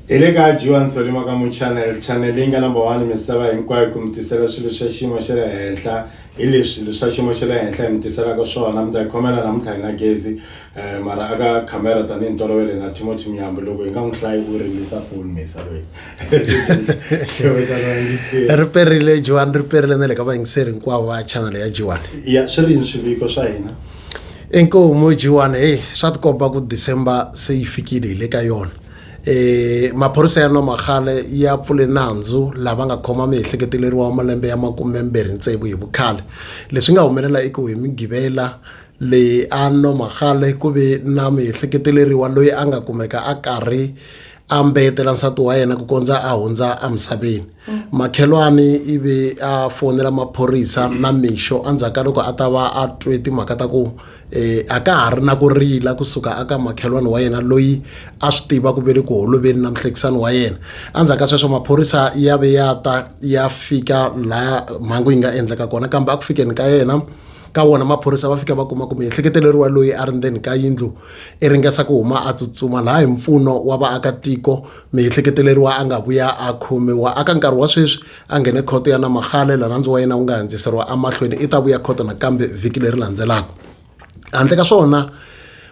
Hi le ka Johan Solima ka Muchannel channel leyi nga number one misava hinkwayo ku mi tisela swilo swa xiyimo xa le henhla hi leswi swa xiyimo xa le henhla hi mi tiselaka swona mi ta hi khomela namuntlha hi na gezi um mara aka khamera tanihi ntolovelo hi na timothy miyambo loko hi nga n'wi hlayi u rimisa foni misa loyi ri perile jiwani ri perile na le ka vayingiseri hinkwavo va channel ya jiwani ya swi ri yini swiviko swa hina inkomu jiwani heyi swa tikomba ku december se yi fikile hi le ka yona E, maphorisa ya Nomagale ya pfule nandzu lava nga khoma miehleketeleriwa wa malembe ya makumembirhi tsevu hi vukhale. Leswi nga humelela i ku hi Mugivela leyi a Nomagale ku ve na miehleketeleriwa loyi a nga kumeka a karhi a mbeyetela nsati wa yena ku kondza a hundza emisaveni. Makhelwani i ve a fonela maphorisa na mixo endzhaku ka loko a ta va a twe timhaka ta ku e a ka ha ri na ku rila kusuka aka makhelwani wa yena loyi a swi tiva ku ve le ku holoveni na muhlekisani wa yena endzhaku ka sweswo maphorisa ya ve ya ta ya fika laha mhangu yi nga endleka kona kambe a ku fikeni ka yena ka wona maphorisa va fika va kuma kumbe ehleketeleriwa loyi a ri ndzeni ka yindlu i ringesa ku huma a tsutsuma laha hi mpfuno wa vaakatiko miehleketeleriwa a nga vuya a khomiwa aka nkarhi wa sweswi a nghene khoto ya namagale lanandzi wa yena wu nga handziseriwa amahlweni i ta vuya khoto nakambe vhiki leri landzelaka handle ka swona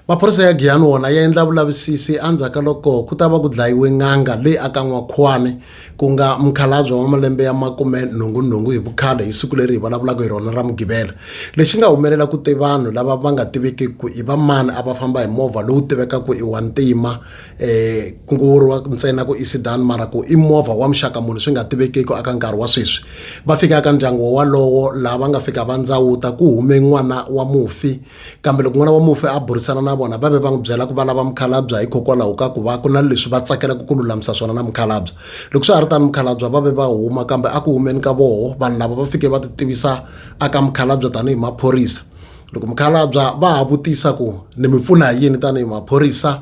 maphorisa ya giyani wona ya endla vulavisisi endzhaku ka loko ku ta va ku dlayiwe n'anga leyi aka n'wakhwani ku nga mukhalabye wa malembe ya makume nhungunhungu hi vukhale hi siku leri hi vulavulaka hi rona ra mugivela lexi nga humelela ku te vanhu lava va nga tiviki ku i vamani a va famba hi movha lowu tivekaka i wa ntima eh ku ngo vuriwa ntsena ku i sedan mara ku i movha wa muxaka munhu swi nga tivekeki aka nkarhi wa sweswi va fika ka ndyangu wolowo laha va nga fika va ndzawuta ku hume n'wana wa mufi kambe loko n'wana wa mufi a burisana na vona va ve va n'wi byela ku va lava mukhalabya hikokwalaho ka ku va ku na leswi va tsakelaka ku lulamisa swona na mukhalabya loko swi ha ri tani mukhalabya va ve va huma kambe a ku humeni ka voho vanhu lava va fike va ti tivisa aka mukhalabya tanihi maphorisa loko mukhalabya va ha vutisa ku ni mi pfuna hi yini tanihi maphorisa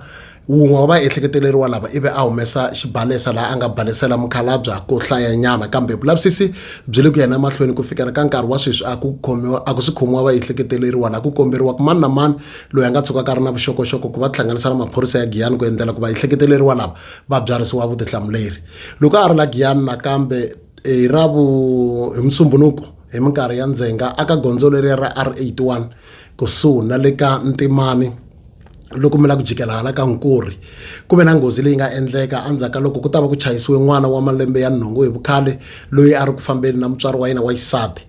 wun'we wa vaehleketeleriwa lava ivi a humesa xibalesa laha a nga balesela mukhalabya ku hlayanyana kambe vulavisisi byi le ku yena emahlweni ku fikela ka nkarhi wa sweswi a ku khomiwa a ku si khomiwa vaehleketeleriwa laha ku komberiwa ku mani na mani loyi a nga tshuka ka ri na vuxokoxoko ku va tihlanganisa na maphorisa ya giyani ku endlela ku vaehleketeleriwa lava va byarisiwa vutihlamuleri loko a ri la giyani nakambe hi ravu hi musumbunuko hi minkarhi ya ndzhenga aka gondzo leriya ra R81 kusuhi na le ka Ntimani loko mi la ku jikela hala ka Nkurhi ku ve na nghozi leyi nga endleka endzhaku ka loko ku ta va ku chayisiwe n'wana wa malembe ya nhungu hi vukhale loyi a ri ku fambeni na mutswari wa yena wa xisati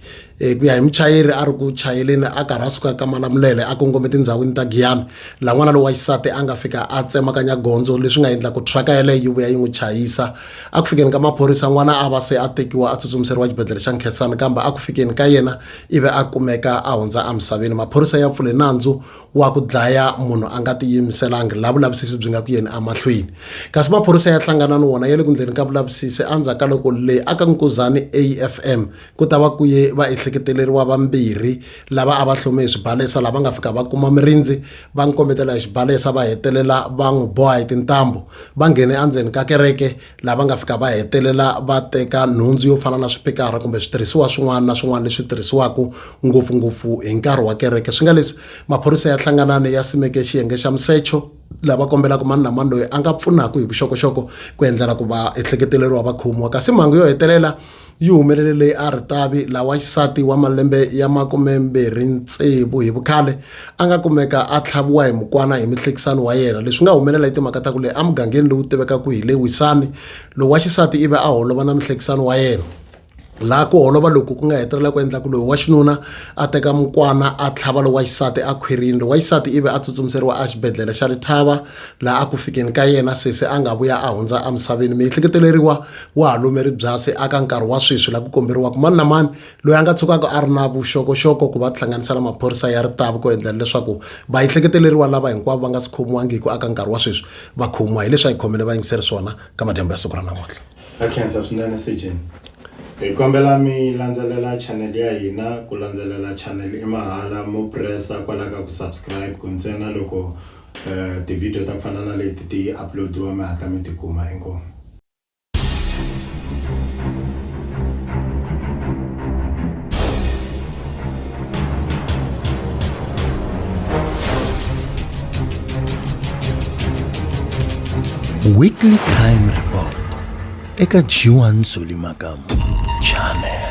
hi ku ya hi muchayeri a ri ku chayeleni a karhi a suka ka malamulele a kongome tindhawini ta Giyani laha n'wana lowa xisati a nga fika a tsemakanya gondzo leswi nga endla ku truck yeleyo yi vuya yi n'wi chayisa a ku fikeni ka maphorisa n'wana a va se a tekiwa a tsutsumiseriwa xibedhlele xa nkhensani kambe a ku fikeni ka yena ivi a kumeka a hundza emisaveni maphorisa ya pfule nandzu wa ku dlaya munhu a nga tiyimiselangi la vulavisisi byi nga ku yeni emahlweni kasi maphorisa ya hlangana ni wona ya le ku ndleni ka vulavisisi endzhaku ka loko leyi aka nkuzani afm ku ta va kuye va ehleketeleriwa vambirhi lava a va hlome hi swibalesa lava nga fika va kuma mirindzi va n'wi kombetela hi xibalesa va hetelela va n'wi boha hi tintambu va nghene endzeni ka kereke lava nga fika va hetelela va teka nhundzu yo fana na swipikara kumbe switirhisiwa swin'wana na swin'wana leswi tirhisiwaka ngopfungopfu hi nkarhi wa kereke swi nga leswi maphorisa ya hlanganani ya simeke xiyenge xa musecho lava kombelaka mani na mani loyi a nga pfunaka hi vuxokoxoko ku endlela ku va ehleketeleriwa va khomiwa kasi mhangu yo hetelela yi humelele leyi a ritavi lawa xisati wa malembe ya makumembirhi tsevu hi vukhale a nga kumeka a tlhaviwa hi mukwana hi mihlekisano wa yena leswi nga humelela hi timhaka ta ku leyi emugangeni lowu tivekaka hi le wisani lowa xisati ivi a holova na mihlekisano wa yena laha ku holova loku ku nga hetelela ku endla ku loyi wa xinuna a teka mukwana a tlhava lowa xisati a khwirini lowa xisati ivi a tsutsumiseriwa a xibedhlele xa lithava laha a ku fikeni ka yena sesi a nga vuya a hundza emisaveni miehleketeleriwa wa ha lomeri byasi aka nkarhi wa sweswi laha ku komberiwaka mani na mani loyi a nga tshukaka a ri na vuxokoxoko ku va tihlanganisa na maphorisa ya ritavi ku endlela leswaku va ehleketeleriwa lava hinkwavo va nga si khomiwangiki aka nkarhi wa sweswi va khomiwa hileswi a hi khomele va yingiseri swona ka madyambu ya siku ra namuntlha Ha khensa swinene Sejeni. Hi kombela mi landzelela channel ya hina ku landzelela channel i mahala mo pressa kwala ka ku subscribe ku ntsena loko uh, ti-video ta ku fana na leti ti uploadiwa mi hatla mi tikuma inkomu Weekly Crime Report eka G1 Zoli Makamu Channel.